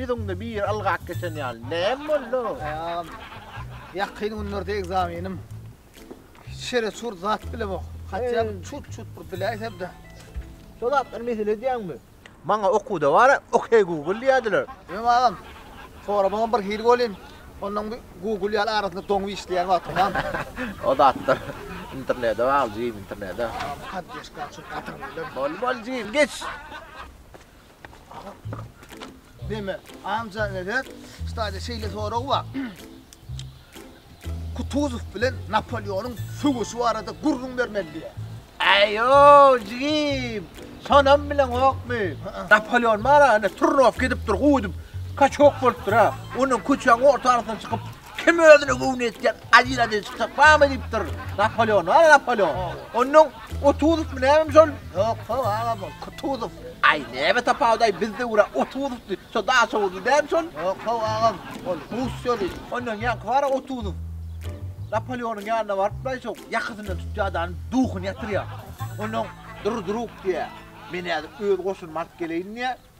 Bizonda bir algak geçen ýaly. Näme boldu? Ýagam. Ýakyn günlerde ekzamenim. Şere çur zat bilemok. Hatda çut çut bir biläýsem-de. Şol atlar mesele edýäňmi? Maňa okuwda bar-a, Okey Google diýerdiler. Öň agam, soramagyň bir hili welin, onnoň bir Google ýaly arasynda doňup işleýän wagtyň barmy? O zatlar internete bagly jigim, internete. Agam, poddeşka üçin gaty gürleň. Boldy, boldy jigim, geç! Neme, amja, nedet, stadiýa şeýle sorag bar. Kutuzow bilen Napoleonyň söweşi barada gürrüň bermeli diýýär. Äý-ow, jigim, şonam bileňokmy? Napoleon bar-a, ine, turnowka edipdir, guw edip, kaçok bolupdyr-a. Ondan köçäniň orta arasyna çykyp, kim özüne göwni ýetýän adyl-adyl çykjak barmy diýipdir. Napoleon bar-a, Napoleon. Ondan Otuzowmy nämemi şol? Ýok, ho, aga bol, Kutuzow. Aý, näme tapawudy, aý, bizde ura Otuzowdy, şo Daşoguzly däl şol? Ýok, ho, aga, ol rus ýoly. Ondan ýaňky bar-a Otuzow. Napoleonyň ýanyna barypla, şo ýakasyndan tutýar adany, duhuny ýatyrýar. Ondan Durdurup diýýär. Men häzir öz goşunymy alyp geleýin diýýär.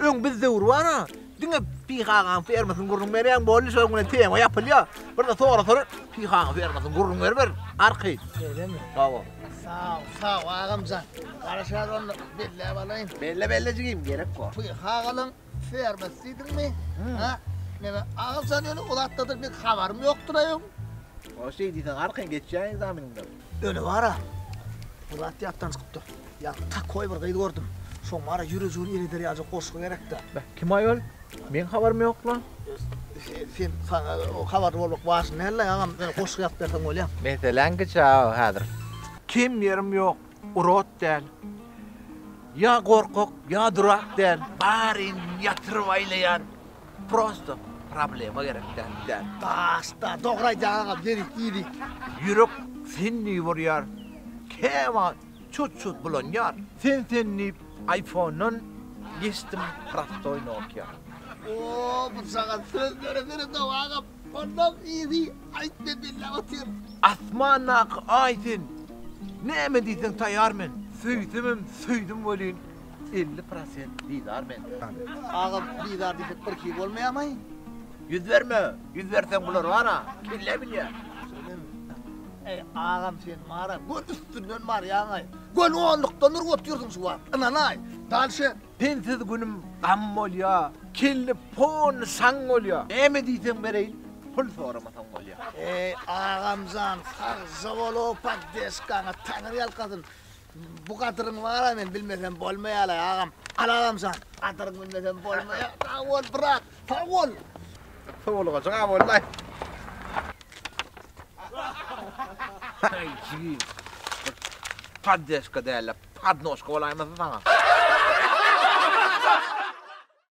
Öň biz döwri bar-a, diňe Pyhagaň fermasyny gürrüň berýäň, boldy, şol güne tema ýapylýar. Birde sorasalar, Pyhagaň fermasyny gürrüň beriber, arky. Şeýlemi? Hawa. Sag ol, sag ol, agamjan. Garaşýarys onda, belläp alaýyn. Belle, belle jigim, gerek bar. Pyhagalyň fermasy diýdiňmi? Hä? Men agamjan ýöne o zatlardan pek habarym ýokdur-aý öň. Ol şeý diýseň, arky, geçýäň ekzameniňden. Öne bara. Bu zat ýatdan çykypdyr. Ýa takoý bir gyz gördüm. Şoň bara ýürejigiň ereder ýaly goşgy gerekde. Kim aýol? Meň habarym ýok lan. Sen saňa habarly bolmak wajyp däl la agam. Öne goşgy ýazyp berseň bolýar. Meseläň giçä häzir. Kim ýerim ýok. Urot däl. Ýa gorkak, ýa durak däl. Baryn ýatyryp aýlaýan. Prosto problema gerek däl däl. Daşda dogry aýdýaň agam ýerik iýdik. Ýürek sen diýip urýar. Käwagt çut çut bulanýar. Sen sen diýip aýfondan geçdim prostoý nokia. Oo bu saňa sözleri beredow agam onnoň yzy aýt men belläp otyr. Asmandaky aý sen näme diýseň taýar men söýsemem söýdim welin 50 prosent bizar men. Aga bizar diýsek bir iki bolmaýamaý? Ýüz berme, ýüz berseň bular bar-a, kelle bilýär. Eý, agam sen mara göl üstünden barýaňaý. Göl onlukdan urup otyrsyň şu wagt, ynanaý. Dalşe. Sensiz günüm gam bolýa, kelle pon şaň bolýa. Näme diýseň bereýin, pul soramasaň bolýa. Eý, agamjan, sagja bol o poddeşkaňa, Taňry ýalkasyn. Bu gadyryň bar-a men bilmesem bolmaýar-a agam. Al agamjan, gadyryňy bilmesem bolmaýar. Sag bol, brat, sag bol. Sowulgaja gap boldy. Ay jigim. Paddeşka dälle, padnoşka bolaýmasyn saňa.